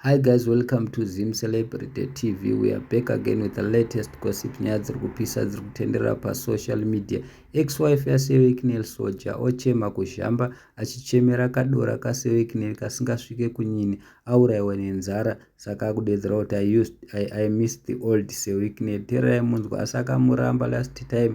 Hi guys welcome to Zim Celebrity TV we are back again with the latest gossip nyaya dziri kupisa dziri kutenderera pasocial media ex-wife yaSewekinel Soja ochema kuzhamba achichemera kadora kaSewekinel kasingasvike kunyini auraiwa nenzara saka akudedzera kuti I, used, I, I miss the old Sewekinel tererai munzwa asi akamuramba last time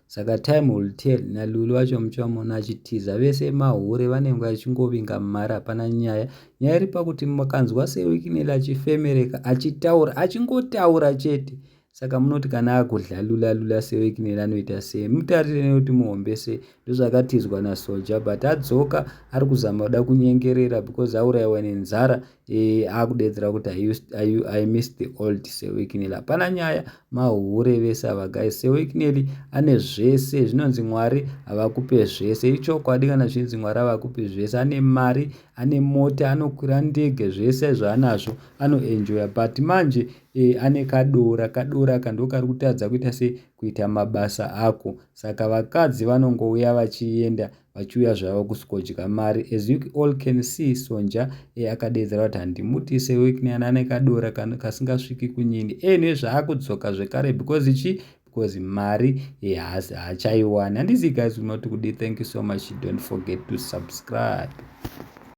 Saka time will tell naLulu vacho muchamona achitiza vese mahure vanenge vachingovinga mumari hapana nyaya nyaya iri pakuti makanzwa sewikinel achifemereka achitaura achingotaura chete saka munoti kana akudlalula lula sewikinel anoita sei mutarire nekuti muhombe sei ndozvakatizwa nasoja but adzoka ari kuzama kuda kunyengerera because auraiwa nenzara e, akudeedzera kuti I, used, I, I miss the old sewikineli hapana nyaya mahure vese ava guys sewikineli ane zvese zvinonzi mwari havakupe zvese ichokwadi kana zvinzi mwari havakupe zvese ane mari ane mota anokwira ndege zvese zvaanazvo anoenjoya but manje e, ane kadora kadora aka ndo kari kutadza kuita se kuita mabasa ako saka vakadzi vanongouya vachienda vachiuya zvavo kusvikodya mari as you all can see sonja e akadeedzera kuti handimutise wekneana ane kadora kasingasviki kunyini enwe zvaakudzoka zvekare because chi because mari yehaasi haachaiwani handizivi guys kuti matikudii thank you so much don't forget to subscribe